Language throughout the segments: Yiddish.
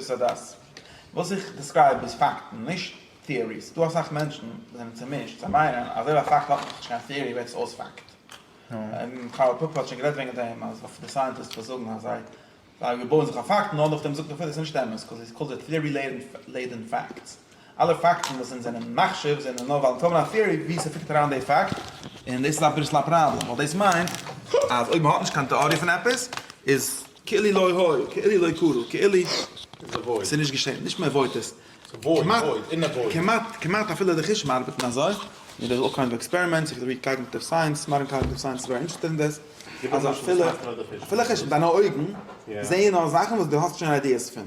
סא דאס וואס איך דעסקרייב איז פאקטן נישט טעאריס, ס'דא אסאך מענטשן וואס זענען צומישט, זיי מיינען אז אויב א פאקט האט נאכנישט קיין טעארי ווערט עס אויס פאקט, קארל פאפער האט שוין גערעדט וועגן דעם אז אויף די סייענטיסטס וואס זאגן אז זיי זיי בויען זיך אויף פאקטן און אט אויף דעם זאגט ער פארוואס איז נישט אמת קאוז איטס קאלד די טעארי לעדען פאקטס, אלע פאקטן וואס אונז זענען מחשיב זענען נאר ווייל אונז האבן א טעארי ווי ס'פיטערט אריין די פאקט, און דאס איז אביסל א פראבלעם ווייל דאס מיינט אז אויב מ'האט נישט קיין טעארי פון עפעס איז. כאילי לא היה, כאילי לא קרה, כאילי ס'איז נישט געשען, נישט מען עוואוידט עס, כמעט, כמעט אפילו די חושים ארבעטן אזוי, מיט די קאוגניטיוו עקספערימענטס אויף די קאגניטיוו סייענס, מאדערן קאגניטיוו סייענס איז זייער אינטערעסטעד אין דעס, אז אפילו, אפילו חושים, דיינע אויגן זעען נאר זאכן וואס דו האסט שוין איידיעס פון.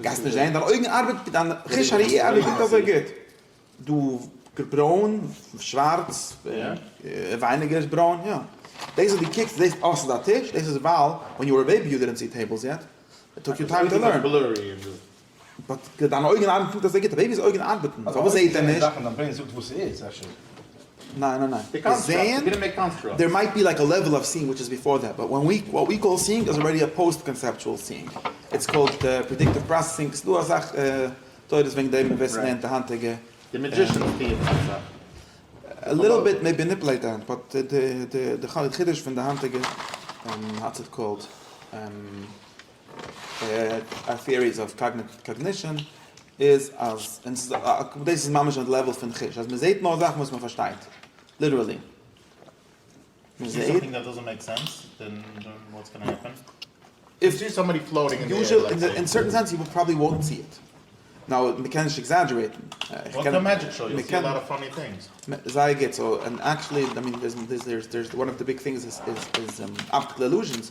גייסט נישט זען, דיין אויגן ארבעט, דיין חוש הראייה ארבעט נישט אזוי גוט, דו ברוין, שווארץ, ווייניגער איז ברוין, יא, דאס וואס דו קוקסט, דאס זעסט, אה ס'איז א טיש, דאס איז ווייל ווען יו ווער א בעיבי יו דידענט סי טעיבלס יעט, איט טוק יו טיים טו לערן. באט דיינע אויגן ארבעטן נישט אזוי גוט, א בעיבי'ס אויגן ארבעטן, פארוואס זעט ער נישט? ניין ניין ניין, די קאנסט קראפט, די גרינבערג קאנסט קראפט. דער מייט בי לייק א לעוועל אוו סיאינג וויטש איז ביפאר דעט, באט וואט ווי קאל סיאינג איז אלרעדי א פאוסט קאנסעפטשועל סיאינג, איטס קאלד פרעדיקטיוו פראסעסינג, ס'דא אסאך תורות וועגן דעם ווער ס'לערנט די היינטיגע. די מעדזשישענס פירן אסאך. א ליטעל ביט מעי ביניפעלעיט דעם, באט די חידוש פון די היינטיגע האטס איט קאלד. א טיעריס אויף קאגנישאן איז אז דאס איז ממש אויף די לעוועל פון חוש אז מען זעהט נאר זאכן וואס מען פארשטייט ליטערלי מען זעהט נאו מען קען נישט עקזעדזשערעיטן זייער גוט סאו ענד עקטשעלי דער איז וואן אוו די ביג טינגס איז אפטיקל אילוזשענס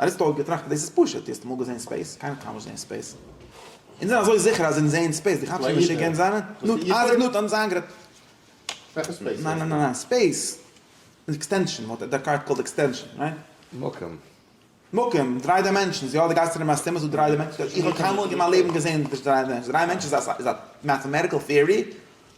אריסטו האט געטראכט אז דאס איז פשוט, דו האסט אמאל געזען ספעיס? קיינער האט קיינמאל געזען ספעיס. אונז זענען אזוי זיכער אז אונז זעען ספעיס, דו כאפסט נישט ווי משוגע אונז זענען? נו, אייזעק ניוטאן האט אונז איינגערעדט. וועלכע ספעיס? ניין ניין ניין, ספעיס איז עקסטענשאן, וואט האט דעקארט קאלד עקסטענשאן, רייט? מקום. מקום, דריי דיימענשאנס, יא, דו גייסט ארום אז ס'אימער ס'איז דא דריי דיימענשאנס, איך האב קיינמאל אין מיין לעבן געזען דריי דיימענשאנס, דריי דיימענשאנס איז א מעטאמעטיקעל טעארי,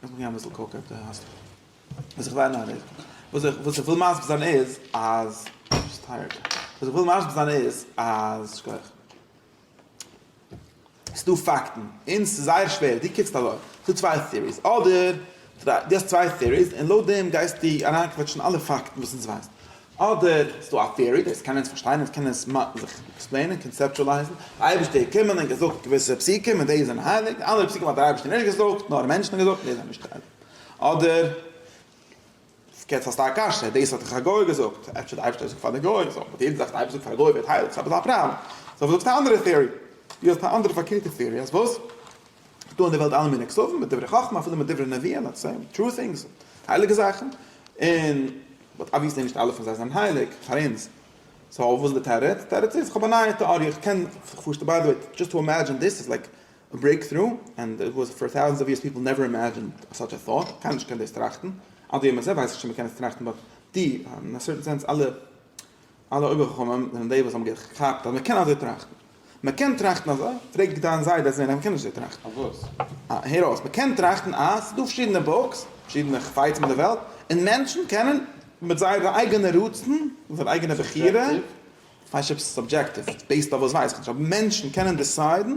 קענסט מיך געבן אביסל קאוק אויב דו האסט וואס איך וויין אהער איז וואס איך וואס איך וויל מסביר זיין איז אז ביסט טייערד וואס איך וויל מסביר זיין איז אז שכח ס'דא פאקטן און ס'איז זייער שווער דו קוקסט אזוי ס'דא צוויי טיעריס אדער דו האסט צוויי טיעריס און לויט דעם גייסטו אריינקוועטשן אלע פאקטן וואס אונז ווייסן אדער ס'איז דא א theory, דאס קען אונז פארשטיין, אונז קענען עס זיך עקספלעינען, קאנצעפטואלייזן, די אייבערשטער האט געקומען און געזאגט געוויסע פסוקים און די זענען הייליג, די אנדערע פסוקים האט דער אייבערשטער נישט געזאגט, נאר מענטשן האבן געזאגט און די זענען נישט הייליג. אדער, יעצט האסטו א קשיא, דאס האט דאך א גוי געזאגט, אפשר דער אייבערשטער האט געזאגט פאר די גוים, סאו אויב יעדע זאך וואס דער אייבערשטער זאגט פאר א גוי ווערט הייליג, ס'איז עפעס א פראבלעם. סאו זאגסטו א אנדערע theory, דו האסט א אנדערע פארקערטע theory, אז וואס? ס'איז דא אין די וועלט אלע מיני כזבים, מיט דברי חכמה, אפילו מיט דברי נביאים, לעטס סעי, טרו טינגס, הייליגע זאכן, און. באט אבוויעסלי נישט אלע פון זיי זענען הייליג פאר אונז, סאו וואס איז די תירוץ? תירוץ איז כ'האב א נייע טעאריע, כ'קען זיך פארשטעלן, ביי די וועי דזשאסט טו אימעדזשין דיס איז לייק א ברעיק טרו, ענד איט וואס פאר טאוזענדס אוו יערס פיפל נעווער אימעדזשינד סאטש א טאט, קיינער נישט קען דאס טראכטן, אט ווי אמת זיי ווייסן שוין מ'קען עס טראכטן באט די אין א סערטען סענס אלע אלע אויבערחכמים זענען די וואס האבן געכאפט אז מען קען אזוי טראכטן. מען קען טראכטן אזוי? פרעג דיין זיידע אזוי, ניין מען קען נישט אזוי טראכטן. אויף וואס? אה, הער אויס, מען קען טראכטן אז ס'איז דא פארשידענע בוקס, פארשידענע חפצים אין די וועלט, און מענטשן קענען מיט זייערע אייגענע רצון, מיט זייער אייגענע בחירה, סובזשעקטיוו? כ'ווייס נישט אויב ס'איז סובזשעקטיוו, ס'איז בעיסד אויף וואס ווייסעך נישט, אבער מענטשן קענען דיסיידן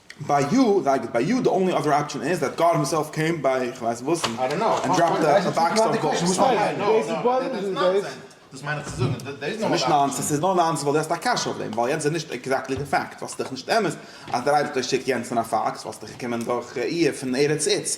ביי יו, זייט איז ביי יו, די אנלי אדער אפשען איז דעט גאד הימסעלף קעם ביי איך ווייס וואס און דראפד א באקס אוו בוקס. וואס מיינט דאס? דאס איז בארענט איז דאס? דאס מיין איך צו זאגן, דאס איז נישט נאנסענס, ס'איז נאר נאנסענס ווייל דו האסט א קשיא אויף דעם, ווייל יענץ איז נישט עקזעקטלי די פאקט, וואלסטו דאך נישט טענה'ט אז דער אייבערשטער שיקט יענץ אין א פאקס, וואלסטו געקומען דורך ראי' פון ארץ איד'ס,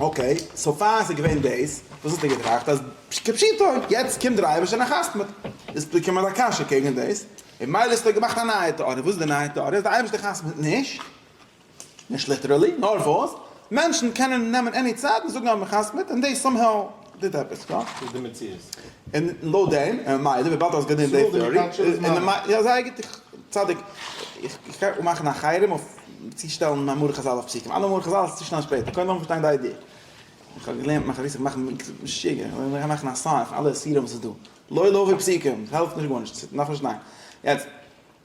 אקעי, סאו פאר עס איז געווען דאס, וואס האסטו געטראכט אז כפשוטו יעצט קומט דער אייבערשטער און ער חתמ'ט? איז פוקע מיין קשיא קעגן דאס, און מילא האסטו געמאכט א נייע טעאריע, וואס איז די נייע טעאריע? אז דער אייבערשטער חתמ'ט נישט, נישט ליטערעלי, נאר וואס? מענטשן קענען נעמען עני צד און זאגן אז מען חתמ'ט און דאס סאמהאו. טוט עפעס יא? ס'איז די מציאות. און לויט דעם, און ממילא וויבאלד האסט גענומען די טעארי, יא זייער גוט, צדק, איך קען אפ מאכן א חרם אויף צו שטעלן מאמרי חזל אויף פסוקים, אלע מאמרי חזל איז צו שנעל שפעטער, קודם לאמיר פארשטיין די איידיע. איך האב געלערנט מיין חביס איך מאך משוגע, איך גיי מאכן א סיין פון אלע אסירים וואס איז דא, לא לוי' פסוקים, ס'העלפט נישט גארנישט, ס'דארף נישט זיין. יעצט.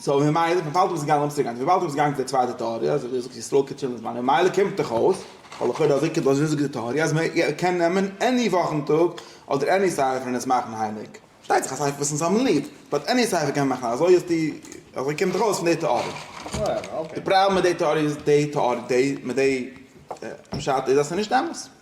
סאו ממילא פון פאלטאוו איז געגאנגען אויף אינסטערגראם, וויבאלד דו ביסט געגאנגען צו די צווייטע טעאריע אז ווי זאגסט ישראל קען טשילן זמן ממילא קומט דאך אויס ווייל לכאורה אזוי קומט אויס ווי זאגט די טעאריע אז מען קען נעמען עני וואכן טאג אדער עני ספר און עס מאכן הייליג, פארשטייט זיך א ספר וואס אונז האבן ליב, באט עני ספר קען מען מאכן אזוי איז די אזוי קומט דאך אויס פון די טעאריע. די פראבלעם מיט די טעאריע איז די טעאריע מיט די פשט איז אז ס'איז נישט אמת.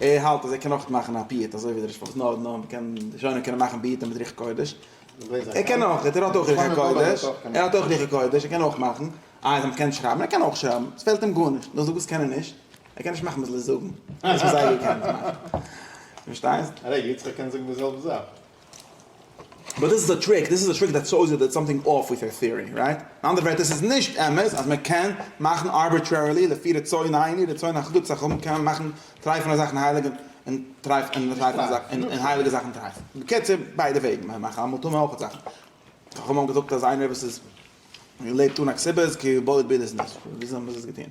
ער האלט אז ער קען אויך מאכן א פיוט אזוי ווי דער רשפ נאר נאר מען קען די זשאנער קענען מאכן ביעטען מיט רוח קודש ער קען אויך ער האט אויך רוח הקודש ער האט אויך רוח קודש ער קען אויך מאכן איי אז מען קען שרייבן ער קען אויך שרייבן ס'פעלט אים גארנישט נאר זאג וואס קען ער נישט ער קען נישט מאכן וואס זיי זאגן דאס וואס זייגער קען עס מאכן דו פארשטייסט? ר' יצחק קען זאגן די זעלבע זאך. באט דאס איז די טריק, דאס איז די טריק דעט סאויז איט דעט סאמטינג אףף וויט הער טעארי, רייט? אין אנדערע ווערטער ס'איז נישט אמת אז מען קען מאכן ארביטרערילי לפי רצון העני רצון החדות סך הכל קען מען מאכן טרייפענע זאכן הייליג און און טרייף און טרייפענע זאכן און און הייליגע זאכן טרייף. בקיצור ביידע וועגן מען מאכן אמאל טאר מען אויכעט זאכן חכמים האבן געזאגט אז איינער וואס איז לעבט אן א קציבה איז כאילו בודד ביד איז נישט וויאזוי האבן זיי עס געטון?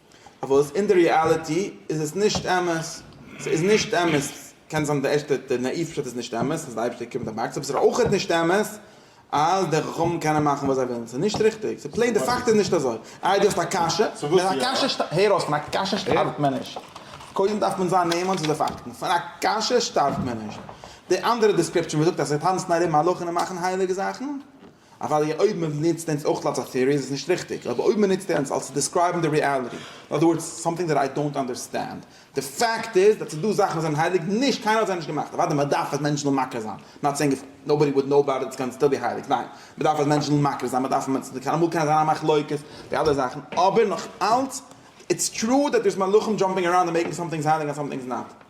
אבער וואס אין די ריאליטי איז עס נישט אמת, ס'איז נישט אמת, קען זיין די ערשטע די נאאיוו פשט איז נישט אמת, אז די אייבערשטער קומט אין באקס, אבער ס'איז אויכעט נישט אמת אז די חכמים קענען מאכן וואס זיי ווילן, ס'איז נישט ריכטיג, ס'איז פלעין די פאקט איז נישט אזוי. איי דו האסט א קשיא? פון א קשיא, הער אויס, פון א קשיא שטארבט מען נישט, קודם דארף מען זיין נאמן צו די פאקטן, פון א קשיא שטארבט מען נישט, די אנדערע דעסקריפשאן וואס זאגט אז זיי טאנצן ארום הלוך און מאכן הייליגע זאכן, אוודאי אויב מען נוצט אונז אויך אלס א theory איז עס נישט ריכטיג, אבער אויב מען נוצט אונז אלס צו דעסקרייבן די ריעליטי, אין אדער ווארדס סאמטינג דעט איי דאונט אנדערסטענד, די פאקט איז דאס איז דא זאכן וואס זענען הייליג, נישט, קיינער האט זיי נישט געמאכט, אוודאי מען דארף אז מענטשן זאלן מכיר זיין, נאט סעינג איף נאובאדי וואלד נאו אבאוט איט קען סטיל בי הייליג, ניין, מען דארף אז מענטשן זאלן מכיר זיין, מען דארף אז מען זאל קיין אמאל קענען זיין א מחלוקת, די אלע זאכן, אבער נאך אלץ, איטס טרו דעט דערס מלאכים דזשאמפינג אראונד און מעיקינג סאמטינגס הייליג און סאמטינגס נאט.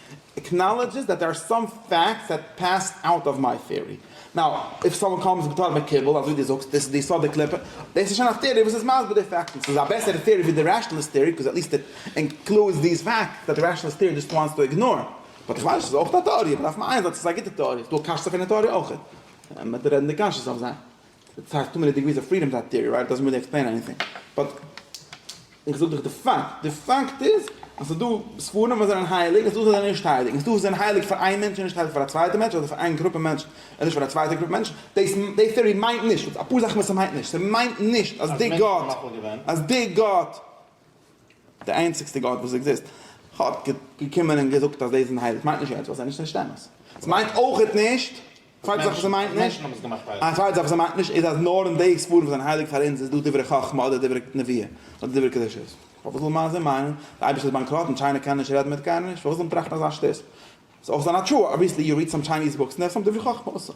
עקנאלעדזשעס דעט דער אר סאם פעקטס דעט פעס אוט אוו מיי טעארי. נאו איף סאמאן קאמס בתור מקובל אזוי דו זאגסט דאס איז די יסוד די קליפה, דאס איז שוין א טעארי וואס איז מסביר די פעקטס און ס'איז א בעסערע טעארי ווי די רעשאנעליסט טעארי בקאז עטליסט איט אינקלודס דיס פעקט דאט די רעשאנעליסט טעארי דזשאסט וואנטס טו איגנאר באט איך ווייס עס איז אויך א טעארי אבער דארף מען איינזען אז עס איז א גוטע טעארי ס'איז דא קשיות אויף די טעארי אויך. ס'איז סאך טו מעני דיגריס אוו פרידאם דעט טיערי רייט דאזענט ריעלי עקספלעין עניטינג באט איך זאג דיך די פאקט, די פאקט איז אז ס'איז דא ספרים וואס זענען הייליג און ס'איז דא וואס זענען נישט הייליג און ס'איז דא וואס זענען הייליג פאר איין מענטש און נישט הייליג פאר א צווייטע מענטש אדער פאר איין גרופע מענטשן און נישט פאר א צווייטע גרופע מענטשן דאס די טיערי מיינט נישט אפאר זאכן וואס ס'מיינט נישט ס'מיינט נישט אז די גאט אז די גאט די איינציגסטע גאט וואס עקזיסט האט געקומען און געזאגט אז דאס איז הייליג מיינט נישט יעצט ווייל סאיז נישט נישט אמת. סמיינט אויכעט נישט צווייטע זאך וואס סמיינט נישט א צווייטע זאך וואס סמיינט נישט איז אז נאר אין די ספרים וואס זענען הייליג פאר אונז איז דא דברי חכמה אדער דברי נביאה אדער דברי קדושות פארוואס זאל מיין זון מיינען די אייבישטער איז באנקראט און טשיינע קען נישט רעדן מיט קיינעם נישט פארוואס זאל מען טראכטן אזא שטות סאיז אויך זיין א תשובה אבוויעסלי יו ריעד סאם טשייניז בוקס און דער האט סאם דברי חכמה אויסער.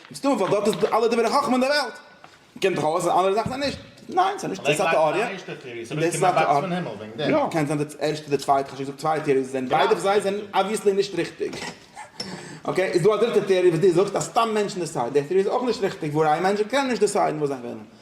מסתמא ווייל דארט איז אלע דברי חכמה אין די וועלט. קומט דאך אויס אז אנדערע זאכן זענען נישט. ניין ס'איז נישט. דאס איז א טעאריע. יא קען זיין די ערשטע די צווייטע כ'האב שוין געזאגט צוויי טעאריעס זענען ביידע פון זיי זענען אבוויעסלי נישט ריכטיג. אקעי איז דא א דריטע טעאריע וואס דו זאגסט אז סתם מענטשן דיסיידן. די טעאריע איז אויך נישט ריכטיג ווארעם מענטשן קענען נישט דיסיידן וואס זיי ווילן.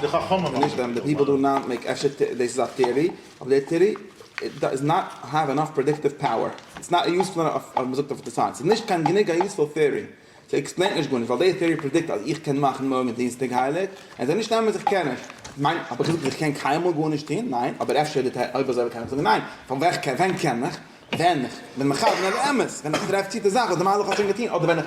די חכמים האבן נישט געטון די פארמעסט. אפשר דאס איז א טעארי, אבער די טעארי דאז נאט העוו ענאף פרעדיקטיוו פאוער. ס'איז נאט יוזפול ענאף אז מ'זאגט אויף די סייענס. ס'איז נישט קיין גענוג א יוזפול טעארי. ס'עקספלעינט נישט גארנישט ווייל די טעארי פרעדיקט אז איך קען מאכן מארגן דינסטאג הייליג. און ס'איז נישט אמת איך קען נישט. כ'מיין, האב איך געזאגט אז איך קען קיינמאל גארנישט טון? ניין. אבער אפשר די טעארי, אויב אזוי קען איך זאגן ניין. פון ווען כ'קען, ווען קען איך? ווען איך בין מכוון אל האמת. ווען איך טרעף צו די זאך וואס די מהלך האט שוין געטון אדער ווען איך.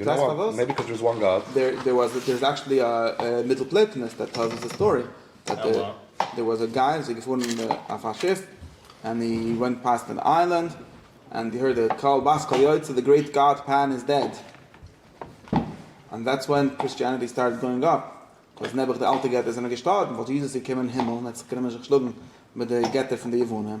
ווייסט פארוואס? דער וואס דער איז עקשעלי א מיטל פלעטינעס דעט טעלס אס די סטארי דעט דער וואס א גיי זיי געפארן אויף א שיף ענד הי ווענט פאסט ען איילענד ענד הי הערד א קאל בת קול יוצא די גרעיט גאד פען איז דעד ענד דעטס ווען קריסטיאנעטי סטארטעד גאוינג אפ קאוז נעבעך די אלטע געטער זענען געשטארבן וואלט יעזוס געקומען אין הימל און ער האט זיך גענומען זיך שלאגן מיט די געטער פון די יוונים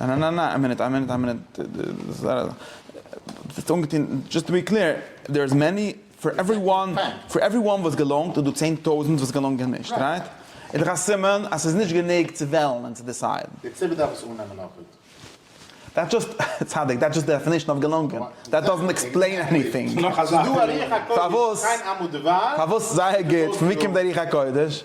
ניין ניין ניין ניין, איין מינוט איין מינוט איין מינוט, דו האסט אנגעטון, דזשאסט טו בי קלער, דער איז מעני, פאר עווערי וואן, פאר עווערי וואן וואס געלאנגט איז דא צען טויזענט וואס געלאנגען נישט, רייט? איז דאך א סימן אז ס'איז נישט גענוג צו וועלן און צו דיסיידן. דער ציבור דארף עס אננעמען אפי'. דעטס דזשאסט, צדיק, דעטס דזשאסט די דעפענישן אוו געלאנגען, דעט דאזענט עקספלעין עניטינג. ס'איז דא א רוח הקודש, קיין עמו דבר, פארוואס זייער גוט, פון ווי קומט די רוח הקודש?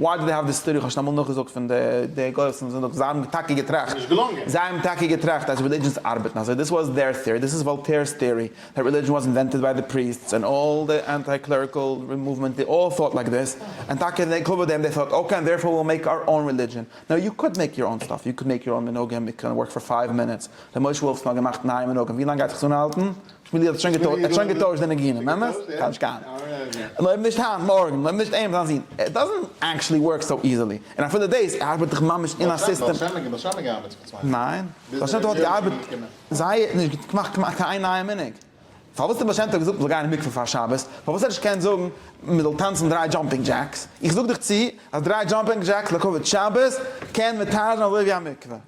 Why do they have this theory? כ'האב שוין אמאל נאכגעזאגט פון די די גוים וואס האבן זינדיגט, זיי האבן טאקע געטראכט, זיי האבן טאקע געטראכט אז רעלידזשענס ארבעטן אזוי, דיס וואס דעיר טעארי, דיס איז וואלטעירס טעארי, דעט רעלידזשען וואס אינווענטעד ביי די פריסטס ענד אלל די אנטי קלעריקעל מאוומענט דעי אלל טאוט לייק דיס, ענד טאקע אין ענקלאוו דעם דעי טאוט אקעי ענד דערפאר וויל מעיק אר און רעלידזשען, נאו יו קאנט מעיק יור אן סטאף, יו קען מעיק יור אן מנהגים, איט קען ווארק פאר פייוו מינוטס, ר' משה וואלף ס'נאר געמאכט נייע מנהגים, ווי לאנג גייט זיך עס אנהאלטן? שמואלי האט שוין געטוישט, ער האט שוין געטוישט די ניגונים, אמת? כאב נישט קיין אנונג. אויב נישט היינט, מארגן, אויב נישט אים, זיין זון. איט דאזענט עקטשעלי ווארק סאו איזעלי. און אפילו דאס, ער ארבעט דאך ממש אין א סיסטעם. בעל שם, בעל שם האט געארבעט צוויי יאר. ניין. בעל שם טוב האט געארבעט זייער, נישט געמאכט כמעט קיין איין נייע מנהג. פארוואס האט בעל שם טוב געזאגט מ'זאל גיין אין מקווה פאר שבת? פארוואס האט ער נישט געקענט זאגן מ'זאל טאנצן דריי דזשאמפינג דזשעקס? איך זאג דיך צו אז דריי דזשאמפינג דזשעקס לכבוד שבת קען מותר זיין אזוי ווי א מקווה.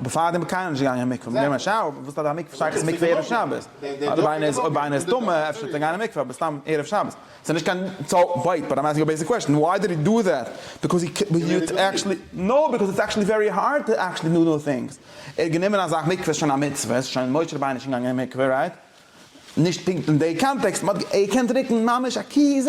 בעפאר די מקוה איז נישט געגאנגען אין מקוה מיט דעם א שאוו וואס האט א מקוה שייכות צו מקוה ערב שבת? אדרבה איינער איז אויב איינער איז טמא אפשר טאר ער גיין אין מקוה אבער סתם ערב שבת סאיז נישט קיין סאו וועיט באט איים עסקינג א בעיסיק קוועשן וואי דיד הי דא דעט ביקאוז הי קען הי איז עקשעלי נאו ביקאוז איטס עקשעלי ווערי הארד טו עקשעלי דא דאו טינגס ער האט גענומען אז א מקוה איז שוין א מצוה סאיז שוין משה רבינו איז שוין געגאנגען אין מקוה רייט נישט פונקט אין די קאנטעקסט באט ער קען טרינקען ממש א ק ז.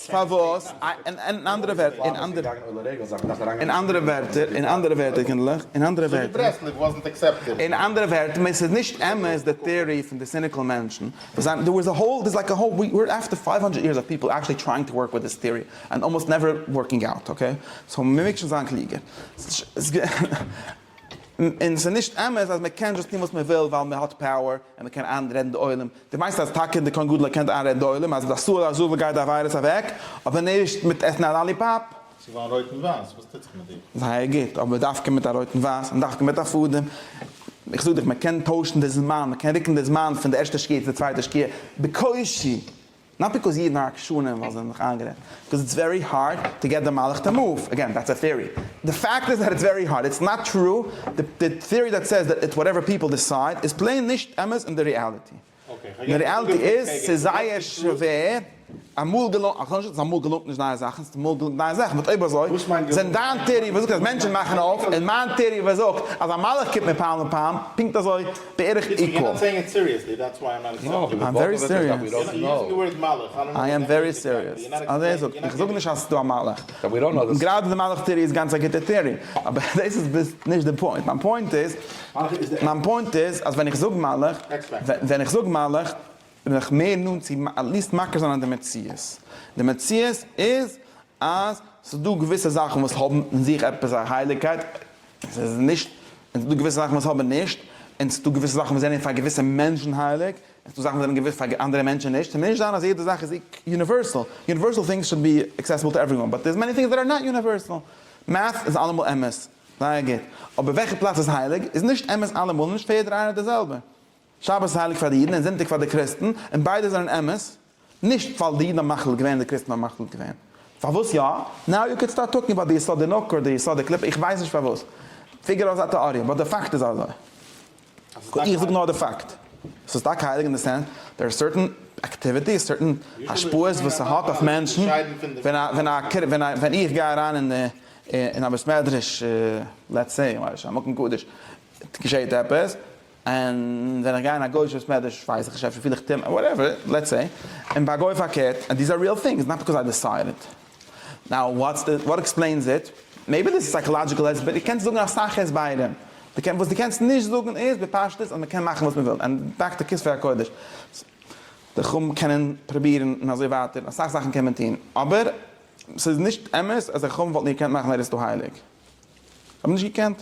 פארוואס? אין אנדערע ווערטער, אין אנדערע ווערטער, אין אנדערע ווערטער, קינדלעך, אין אנדערע ווערטער, אין אנדערע ווערטער, מען ס'איז נישט אמת די טעארי פון די סיניקיל מענטשן, וואס זיין, דער איז א האול, דער איז לייקע האול, ווי אר עפטער פייוו האנדרעט יערס אוו פיפל עקשעלי טרייאינג טו ווארק וויט דיס טעארי ענד אלמאסט נעווער ווארקינג אוט, אקעי? סאו מ'מעג שוין זיין קלוגער. און ס'איז נישט אמת אז מ'קען דזשאסט טון וואס מ'וויל ווייל מ'האט פאוער און מ'קען איינרעדן די עולם. דו מיינסט אז טאקע די כהן גדול קען איינרעדן די עולם אז מיט א סועל אזוו גייט די וויירוס אוועק, אבער נישט מיט עסן א לאליפאפ? צו וויין רויט און ווייס, וואס טוט זיך מיט דיר? זייער גוט, אבער דווקא מיט א רויט און ווייס? און דווקא מיט א פאדעם? איך זאג דיך, מ'קען טוישן די זמן, מ'קען רוקן די זמן פון די ערשטע שקיעה צו די צווייטע שקיעה בקושי! נאט ביקאוז אידן אר עקשנים ווייל זיי האבן זיך איינגערעדט, ביקאוז איטס ווערי הארד טו געט די מלאך טו מאוו, אגעין דעטס א טעארי, די פאקט איז דעט איטס ווערי הארד, איטס נאט טרו, די טעארי דעט סעיס דעט איטס וואטעווער פיפל דיסייד איז פלעין נישט אמת אין די רעאליטי, אין די רעאליטי איז ס'איז זייער שווער, אמאל געלונגט, איך זאג נישט אז אמאל געלונגט נישט נייע זאכן, ס'האט אמאל געלונגט נייע זאכן, באט אויב אזוי זענט דיין טעארי וואס זאגט אז מענטשן מאכן אויף, און מיין טעארי וואס זאגט אז א מלאך קומט מיר פעם לפעם, פונקט אזוי בערך עיקול. איים ווערי סיריעס. אזוי זאגט. איך זאג נישט אז ס'דא א מלאך. גראדע די מלאך טעארי איז גאנץ א גוטע טעארי. אבער דאס איז נישט די פוינט. מיין פוינט איז. מיין פוינט איז אז ווען איך זאג מלאך. ווען איך זאג מלאך. בין איך מער נאנט צו עטליעסט מכיר זיין אז די מציאות. די מציאות איז אז ס'דא געוויסע זאכן וואס האבן אין זיך עפעס א הייליגקייט. עס איז נישט, און ס'דא געוויסע זאכן וואס האבן נישט, און ס'דא געוויסע זאכן וואס זענען פאר געוויסע מענטשן הייליג, און ס'דא זאכן וואס זענען געוויס פאר אנדערע מענטשן נישט, ס'מוז נישט זיין אז יעדע זאך איז יוניווערסעל, יוניווערסעל טינגס שוד בי עקסעסעבל טו עוועריוואן, באט דער'ס מעני טינגס דעט אר נאט יוניווערסעל. מעט'ס איז אלעמאל אמת, זייער גוט, אבער וועלכע פלאץ איז הייליג איז נישט אמת אלעמאל און נישט פאר יעדער איינער די זעלבע. שבת איז הייליג פאר די אידן און זונטאג פאר די קריסטן, און ביידע זענען אמת, נישט ווייל די אידן האבן מחליט געווען און די קריסטן האבן מחליט געווען. פארוואס יא? נאו יו קען סטארט טאלקינג אבאוט די יסודי נוקה אדער די יסודי קליפה, איך ווייס נישט פארוואס, פיגער אויס א טעאריע, באט די פאקט איז אזוי. איך זאג נאר די פאקט. עס איז טאקע הייליג אין די סענס דער איז סערטען אקטיוויטיס, סערטען השפעות וואס ס'האט אויף מענטשן, ווען איך גיי אריין אין א בית מדרש לעטס סעי, מקום קדוש, געשעהט עפעס, און ווען איך גיי אין א גוי'איש בית מדרש ווייס איך אפשר פיל איך טומאה וואטעווער, לעטס סעי, און ביי א גוי פארקערט, און דיס איז א ריעל טינג, איטס נאט ביקאוז איי דיסייד איט, נאו וואטס די, וואט עקספלעינס איט, מעיבי דיס איז סייקאלאדזשיקעל הסבר, דו קענסט זאגן אסאך הסברים, די קענסט, וואס די קענסט נישט זאגן איז בפשטות אז מען קען מאכן וואס מען וויל, און דאקטער כספי הקודש, די חכמים קענען פרובירן און אזוי ווייטער, אסאך זאכן קען מען טון, אבער ס'איז נישט אמת אז די חכמים וואלטן געקענט מאכן ארעסט דא הייליג, זיי האבן נישט געקענט.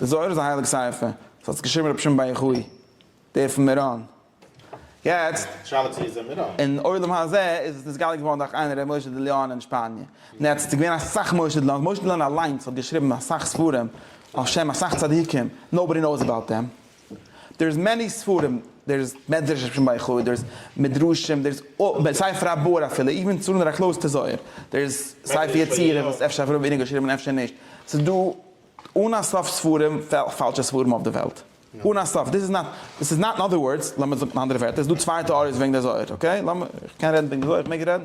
די זוהר איז א הייליג ספר, ס'האט עס געשריבן רבי שמעון בר יוחאי, דער פון מירון. יעצט, אין עולם הזה איז עס נתגלה געווארן דורך איינער רבי משה די ליאון אין שפאניע, און יעצט איז געווען אסאך משה די ליאון, משה די ליאון אליינס האט געשריבן אסאך ספרים על שם אסאך צדיקים, נאובאדי נאוס אבאוט הים. דער'ס מעני ספרים, דער'ס מדרש אויפ'ן בית חי, דער'ס מדרשים, דער'ס ספר הבור אפילו, איווען צו נאר א קלאוזד טזויער, דער'ס ספר יצירה וואס אפשר האט ר' ווילנא געשריבן און אפשר נישט, ס'איז דא אן א סוף ספרים, פאלשע ספרים אויף די וועלט, אן א סוף, דיס איז נאט, דיס איז נאט, אין אדער ווארדס, לאמיר זאגן אין אנדערע ווערטער, ס'איז דא צוויי טעאריעס וועגן די זוהר, אקעי, לאמיר, איך קען רעדן וועגן די זוהר, איך מעג רעדן?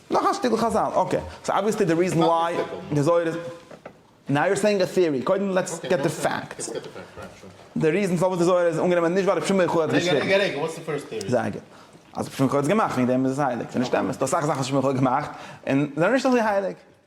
נאך א שטיקל חזל, אקעי, סאו אבוויעסלי די ריזען וויי די זוהר איז, נאו יור סעיאינג א טעארי, קודם לעטס געט די פאקטס, די ריזען פארוואס די זוהר איז אנגענומען נישט ווייל רבי שמעון יוחאי האט געשריבן, זייער גוט, אז רבי שמעון יוחאי האט עס געמאכט וועגן דעם איז עס הייליג, ס'איז נישט אמת, ס'דא אסאך זאכן וואס רבי שמעון יוחאי האט געמאכט און זענען נישט אזוי הייליג.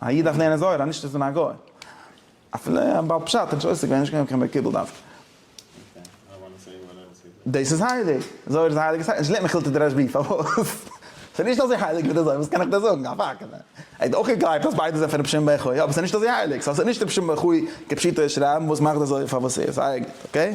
א איד דארף לערנען זוהר אז נישט צו זיין א גוי. אפילו א בעל פשט איז נישט עוסק ווען נישט געווען קיין מקובל דווקא. דאס איז הייליג. זוהר איז א הייליגע ספר. נישט געלערנט מכילתא דרש ב. פארוואס? ס'איז נישט אזוי הייליג ווי די זוהר. וואס קען איך דיר זאגן? א פאקט. ער האט אויך געגלייבט אז ביידע זענען פון רבי שמעון בן יוחאי, אבער ס'איז נישט אזוי הייליג. סא ס'איז נישט רבי שמעון בן יוחאי כפשוטו של רמב ם וואס מאכט די זוהר פאר וואס ס'איז. אייגענטליך. אקעי?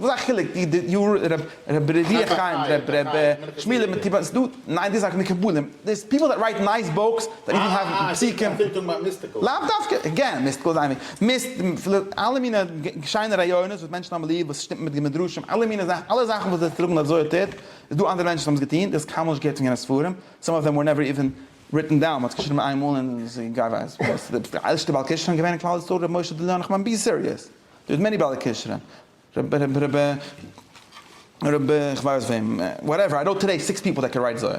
וואס א חילוק ווי די יו ר רב רבי ר' אלי' חיים רב רבי שמואל מטיבאן ס'דא ניין די זאך מקובלים דעיס פיפל דעט רייט נייס בוקס דעט איווען האוו פסוקים לאו דווקא גערן מיסטיקל איז איין מיסט אלע מינע שיינע רעיונות וואס מענטשן האבן ליב וואס שטימט מיט מדרשים אלע מינע זאכן אלע זאכן וואס זיי טראגן אז אזוי האט ער איז דא אנדערע מענטשן וואס האבן עס געטון דאס קיינמאל נישט געהערט פון יענע ספרים סאם אוו דעם ווער נעווער איווען ריטן דאון מ'האט עס געשריבן איינמאל און גיי ווייס וואס די ערשטע בעל קשרן געווען אין כלל ישראל ר' משה די לאו נחמן בי סיריעס. דער האט מעני בעלי כשרון, רבי רבי רבי רבי כ'ווייס וועם, וואטעווער, איי נאו טודעי סיקס פיפל דעט קען רייט זוהר.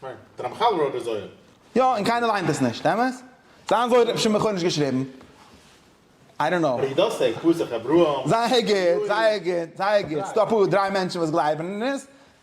ניין, דער רמחל רויט די זוהר. יא, און קיינער ליינט עס נישט, אמת? זיין זוהר האט שמעון חורניש געשריבן? איי דאנט נאו. פסח אברהם. זייער גוט, זייער גוט, זייער גוט, ס'דא אפאר דריי מענטשן וואס גלייבן אין עס,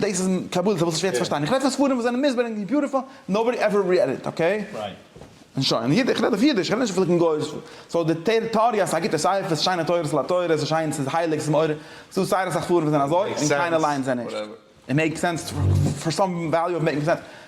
דאס איז קבלה ס'איז שווער צו פארשטיין איך רעד פון ספרים וואס זענען מוסבר און ביוטיפול נאובאדי עווער ריעד איט אקעי און שוין און איך רעד אויף אידיש איך רעד נישט פון גויאיש סאו די טעאריע אז ס'איז א גוטע ספר ס'שיינע תורות על התורה ס'איז שיין ס'איז הייליג ס'איז מעורר ס'דא זייער אסאך ספרים וואס זענען אזוי און קיינער ליינט זיי נישט איט מעיק סענס פאר סאם וועליו אוו מעיקינג סענס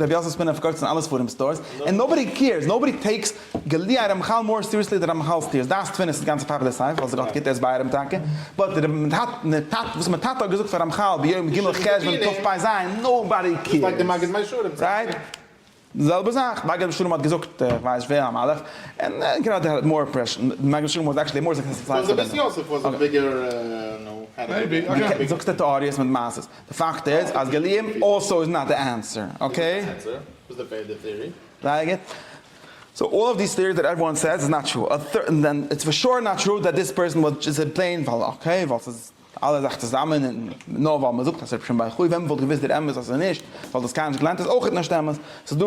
רבי יוסף ספינער פארקויפט עס אין אלע ספרים סטארס, ענד נאובאדי קעירס, נאובאדי טעיקס גלי' הרמחל מאר סיריעסלי דען רמחל סטיר, דעת תפינה'ס איז גאנץ א פאפולער ספר ווייל ס'גאט גיבט ער איז ביי רמ טאקע, באט די רבי נתתתא וואס מיין טאטע האט געזאגט פאר רמחל ביום ג' חשוון תרפ ז, נאובאדי קעירס, רייט? די זעלבע זאך מגד משולם האט געזאגט איך ווייס נישט ווער א מלאך, און גראדע האט מאר אימפרעשאן, מגד משולם וואס עקטשעלי מאר סוקסעספול. די זאגסט די טעאריעס מיט מעשות. די פאקט איז אז גליון אלסא איז נאט די ענסער, אקעי? זייער גוט. סאו אלל אוו דיס טיעריס דעט עוועריוואן סעיס איז נאט טרו, דען איטס פאר שור נאט טרו דעט דיס פערסאן וואלט ג'סט זעט פלעין ווייל אקעי ווייל ס'איז אלע זאך צוזאמען און נאר ווייל מ'זאגט אז ס'רבי שמעון בר יוחאי ווען מ'וואלט געוואוסט דער אמת אז ס'איז נישט ווייל דאס קיינמאל נישט געליינט איז אויכעט נישט אמת. ס'איז דא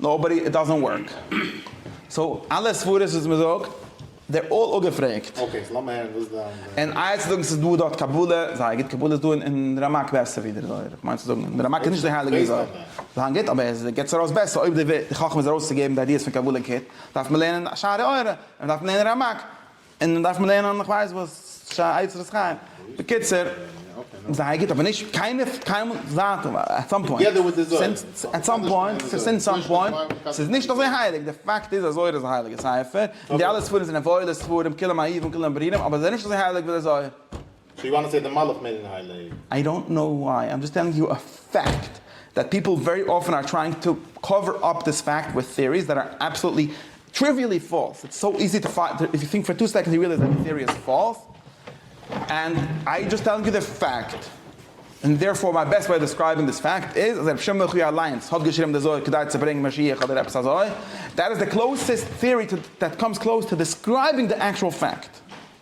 נאובאדי איט דאזענט ווארק. סאו אלע סברות וואס מען זאגט דער אלל אפגעפרעגט. אקעי סאו לאמיר הערן וואס דיין דעה. און איה צו זאגן ס'איז דא דארט קבלה, זייער גוט, קבלה איז דא אין רמק בעסער ווי דער זוהר, איך מיין צו זאגן דער רמק איז נישט די הייליגע ווי זוהר, זיין גוט אבער עס געבט עס ארויס בעסער, אויב די חכמה איז ארויסצוגעבן די איידיעס פון קבלה גוט דארף מען לערנען שערי אורה, און מ'דארף לערנען רמק. און דארף מען לערנען איך ווייס וואס שער עצרת חיים, בקיצור זייער גוט אבער נישט קיינער קיינמאל זייט עט סאם פוינט סינס עט סאם פוינט סינס סאם פוינט ס'איז נישט אזוי הייליג די פאקט איז אז זוהר איז א הייליגע ספר און די אלע ספרים זענען וואוילע ספרים כולם אהובים כולם ברירים אבער זיי זענען נישט אזוי הייליג ווי די זוהר. סאו יו וואנט טו סעי די מלאך מער אין היי לעוו? איי דאנט נאו וויי, איים דזשאסט טעלינג יו א פעקט דעט פיפל ווערי אפען אר טרייאינג טו קאווער אפ דיס פעקט וויט טעאריס דעט אר אבסאלוטלי טריוויעלי פאלס, איטס סאו איזי טו פייט איף יו טינק פאר טו סעקאנדס יו רעליעז דעט די טעארי איז פאלס ענד איי דזשאסט טעלינג יו די פעקט און דערפאר מיי בעסט וועי אוו דעסקרייבינג דיס פעקט איז אז רבי שמעון מחי' אליינס האט געשריבן די זוהר כדי צו ברענגן משיח אדער עפעס אזוי דעט איז די קלאוסעסט טעארי דעט קאמס קלאוס טו דעסקרייבינג די עקטשועל פעקט.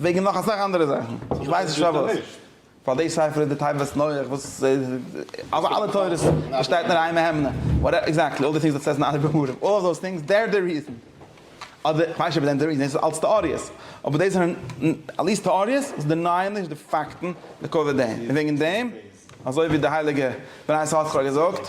וועגן נאך אסאך אנדערע זאכן, איך ווייס נישט פארוואס. פאר די ספר איז די תיבת נוח וואס אזא אלע תורות באשטייט נאר איין מהימנא, וואטעווער, עקזעקטלי, אלל די טינגס דעט סעז אין אנדערע בימורים, אלל דאס טינגס דער די ריזען, אדער כ'ווייס נישט אויב דער די ריזען, דאס איז אלץ טעאריעס, אבער דאס זענען אלעס טעאריעס וואס דענייען נישט די פאקטן, ליקוי דעם, און וועגן דעם, אזוי ווי די הייליגע בני ישראל האט זיך שוין געזאגט,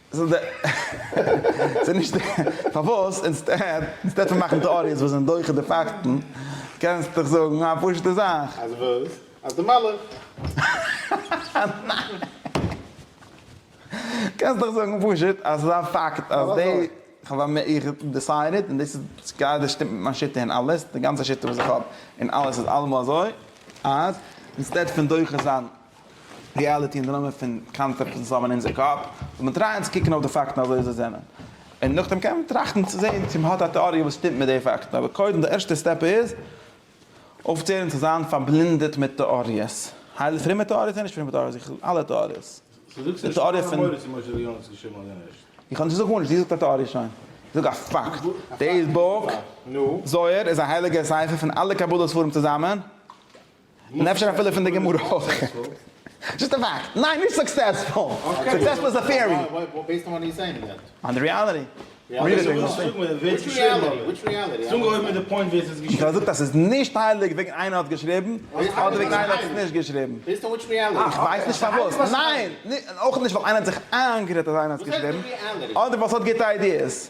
ס'איז די ס'איז נישט די פארוואס אינסטעד אינסטעד פון מאכן טעאריעס וואס זענען דוחה די פאקטן קענסט דאך זאגן א פשוטע זאך. אז וואס? אז די מלאך. קענסט דאך זאגן פשוט אז ס'איז א פאקט אז די כ'האב א איך דיסיידעד און דאס איז גראדע שטימט מיט מיין שיטה און אלעס די גאנצע שיטה וואס איך האב און אלעס איז אלעמאל אזוי אז אינסטעד פון דוחה זיין ריאליטי און די נאמען פון קאנצעפטן וואס האבן אין אונזער קאפ, זאל מען טרייען צו קוקן אויף די פאקטן אזוי ווי זיי זענען, און נאכדעם קען מען טראכטן צו זען צו מען האט א טעאריע וואס שטימט מיט די פאקטן, אבער קודם די ערשטע סטעפ איז אויפצוהערן צו זיין פארבלינדעט מיט טעאריעס, הייל פרומע טעאריעס און נישט פרומע טעאריעס, איך וויל אלע טעאריעס, די טעאריע פון. איך האב נישט געזאגט גארנישט, דו זאגסט א טעאריע שוין, איך זאג א פאקט, דעיס בוק זוהר איז א הייליגער ספר פון אלע קבלה ספרים צוזאמען, און אפשר אפילו פון די גמרא אויך. זשאסט א פאקט. ניין נישט סוקסעספול. סוקסעספול איז א טעארי. בעיסד אן וואט יו סעיאינג דעט. אן די ריאליטי. וויל ער זאגט אז ס'איז נישט הייליג וועגן איינער האט געשריבן, אדער וועגן איינער האט עס נישט געשריבן. איך ווייס נישט פארוואס. ניין! און אויך נישט ווייל איינער האט זיך איינגערעדט אז איינער האט עס געשריבן, אדער ווייל ס'האט גוטע איידיעס.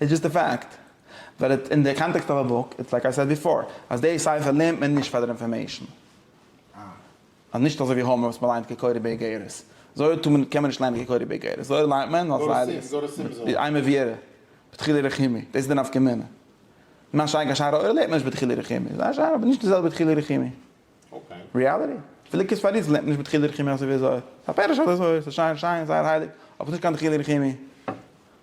איטס דזשאסט א פאקט ווער איט אין די קאנטעקסט אוו א בוק, איטס לייק איי סעד ביפאר אז די ספר לערנט מען נישט פאר דער אינפארמעישן, אז נישט אזוי ווי הומער וואס מען ליינט כקורי באיגרת, זוהר טאר מען קען מען נישט ליינען כקורי באיגרת, זוהר ליינט מען אלס ראיות, איז איין מעביר בדחילו רחימי, דאס איז די נפקא מינה, מה שאין כן שאר העולם לערנט מען נישט בדחילו רחימי, זיי שיין אבער נישט די זעלבע בדחילו רחימי, ריעליטי, אפילו כת פאריז לערנט מען נישט בדחילו רחימי אזוי ווי זוהר, ס'איז א פירוש אויף די זוהר, ס'איז שיין שיין זייער הייליג, אבער ס'איז נישט קיין דחילו רחימי,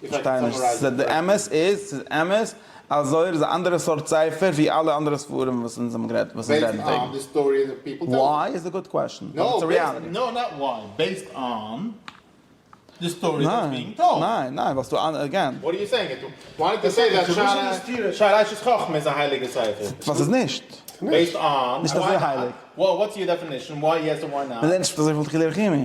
כ'פארשטיי נישט, ס'איז די אמת? איז ס'איז אמת אז זוהר איז א אנדערע סארט ספר ווי אלע אנדערע ספרים וואס אונז האבן גערעדט וואס אונז רעדן וועגן? וויי איז א גוד קוועשן, באט איטס א ריאליטי. ניין, ניין, ניין, ווייל ס'דא אנדערע, אגעין. ווייל ס'איז נישט. נישט אזוי הייליג. מ'רעדט נישט פון אזוי פון דחילו רחימי.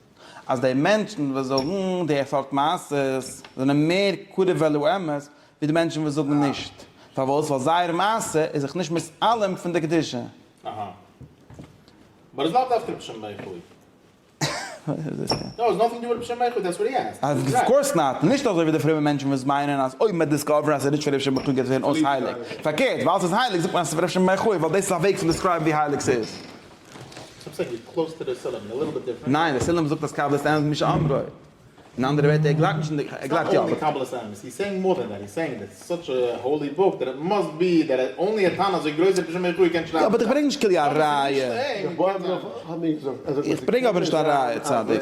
אז די מענטשן וואס זאגן די סארט מעשות זענען מער קרוב אל האמת ווי די מענטשן וואס זאגן נישט, פארוואס? ווייל זייער מעשה איז זיך נישט מתעלם פון די קדושה. אהא. באט איטס נאט דווקא בשם בייחוד. נאו, איטס נאטינג דו וויט בשם בייחוד, דעטס וואט הי עסקד. אוו קאורס נאט. נישט אזוי ווי די פרומע מענטשן וואס מיינען אז אויב מען וועט דיסקאווערן אז ס'איז נישט פון רבי שמעון גייט עס ווערן אויס הייליג. פארקערט, ווייל ס'איז הייליג זאגט מען אז ס'איז פון רבי שמעון בייחוד ווייל דאס איז א וועג צו דיסקרייבן ווי הייליג ס'איז. ניין, ר' סעלים זאגט אז קבלת האמת מי שאמרו. אין אנדערע ווערטער, ער גלייבט נישט אין די, ער גלייבט יא. באט איך ברענג נישט כליל א ראיה. איך ברענג אבער נישט א ראיה צדיק.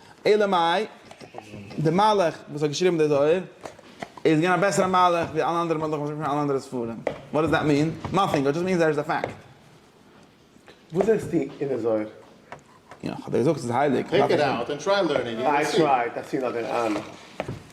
אלא מאי, דער מהלך וואס האט געשריבן די זוהר איז געווען א בעסערע מהלך ווי אלע אנדערע מהלכים וואס מ'זאגט פון אלע אנדערע ספרים. וואט דאז דעט מין? נאטינג, איט דזשאסט מינס דער איז א פאקט. וואס זעסטו אין די זוהר? יא, כ'האב דיר געזאגט ס'איז הייליג. טעיק איט אוט ענד טריי לערנינג און יו וויל סי. איי טרייט, איך צי נאר דער אן.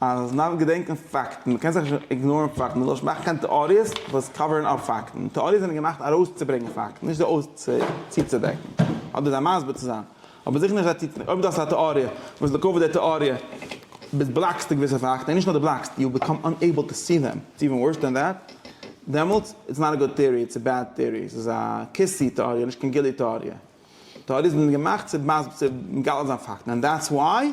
אז מען דארף געדענקען פאקטן, מען קען זיך נישט איגנארן פאקטן, מען זאל נישט מאכן קיין טעאריעס וואס קאווערן אפ פאקטן, טעאריעס זענען געמאכט ארויסצוברענגען פאקטן, נישט זיי אויס צוצודעקן, אדער זיי מסביר צו זיין, אבער זיכער נישט זיי צוצודעקן, אויב דו האסט א טעאריע, וואס לטובת די טעאריע ביסט בלאקסטו געוויסע פאקטן, און נישט נאר דו בלאקסט, יו ביקאם אנעיבל טו סי דעם, איטס איווען ווארס דען דעט, דעמאלטס איטס נאט א גוד טעאריע, איטס א בעד טעאריע, ס'איז א כיסי טעאריע, נישט קיין גילי טעאריע, טעאריעס זענען געמאכט צו מגלה זיין פאקטן, ענד דעטס וואי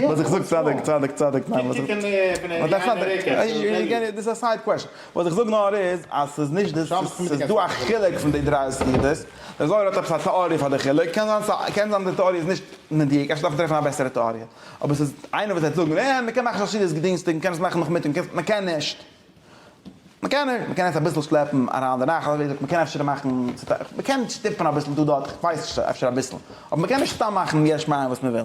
וואס איך זאג צדק צדק צדק ניין וואס איך דאס איז א סייד קוועשן וואס איך זאג נאר איז אז ס'איז נישט דאס ס'איז דא א חילוק פון די דריי סגירות דער זוהר האט עפעס א טעאריע פאר די חילוק קען זיין קען זיין די טעאריע איז נישט מדויק אפשר דארף מען טרעפן א בעסערע טעאריע אבער ס'איז איינער וואס וועט זאגן אה מ'קען מאכן שרשרת גדינסטאג מ'קען עס מאכן נאכמיטאג מ'קען עס מ'קען נישט מ'קען נישט מ'קען עס אביסל שלעפן אריין די נאכט אזוי ווי מ'קען אפשר מאכן מ'קען שטופן אביסל דא דארט כ'ווייס נישט אפשר אביסל אבער מ'קען נישט סתם מאכן יש מאין וואס מ'וויל.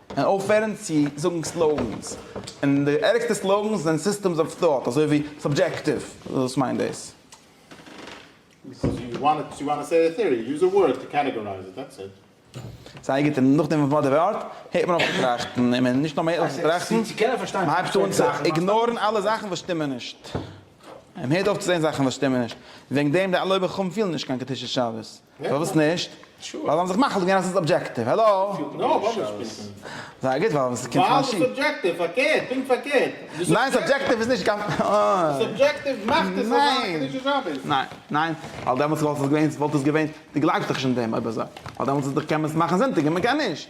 און אויפהערן צו זאגן סלאוגענס, און די ערגסטע סלאוגענס זענען סיסטעמס אוו טאט אזוי ווי סאבדזשעקטיוו, וואס מיינט דאס? ס'הרג'ט אים, נאכדעם וואס מ'האט די ווארט, הערט מען אויף צו טראכטן, און נישט נאר מ'הערט אויף צו טראכטן, מ'הייבט אן צו איגנארן אלע זאכן וואס שטימען נישט, און מ'הערט אויף צו זען זאכן וואס שטימען נישט, און וועגן דעם די אלע אויבערחכמים פילן נישט קיין קדושת שבת. פארוואס נישט? ווייל זיי האבן זיך מחליט געווען אז ס'איז אבדזשעקטיוו. האלא? זייער גוט ווייל ס'קומט פון א שי. ניין סאבדזשעקטיוו איז נישט קיין. ניין ניין ווייל דעמאלטס וואלט עס געווען, וואלט עס געווען, דו גלייבסט דאך נישט אין דעם אויב אזוי. ווייל דעמאלטס איז דאך קען מען עס מאכן זונטאג און מ'קען נישט.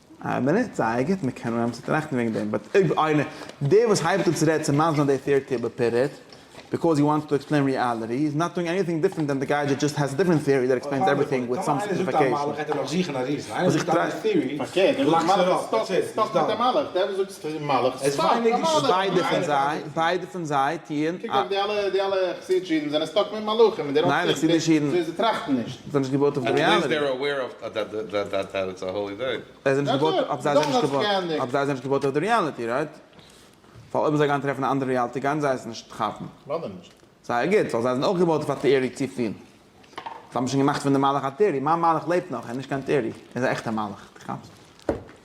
אה, באנוצט זייער גוט, מען קען אנהייבן צו טראכטן וועגן דעם, באט אויב איינער, דער וואס הייבט אן צו רעדן צו מאנדלען די טעארטי אבער פירעט, ביקאוז הי וואנטס טו עקספלעין ריאליטי, איז נאט דואינג עניטינג דיפרענט דען די גאי דזשאסט דזשאסט האס א דיפרענט טעארי דעט עקספלעינס עווריטינג וויט סאם סימפליפיקעישאן. זיי נישט געבויט אויף די ריאליטי. זיי נישט געבויט אויף זיי זענען נישט געבויט אויף זיי זענען נישט געבויט אויף די ריאליטי רייט? ווייל אויב זיי גייען טרעפן א אנדערע ריאליטי גייען זיי עס נישט כאפן. ליידער נישט. זייער גוט ווייל זיי זענען אויך געבויט אויף א טעארי צופיל. זיי האבן שוין געמאכט פון די מלאך א טעארי. מיין מלאך לעבט נאך ער איז נישט קיין טעארי ער איז א עכטע מלאך. די כאפסט?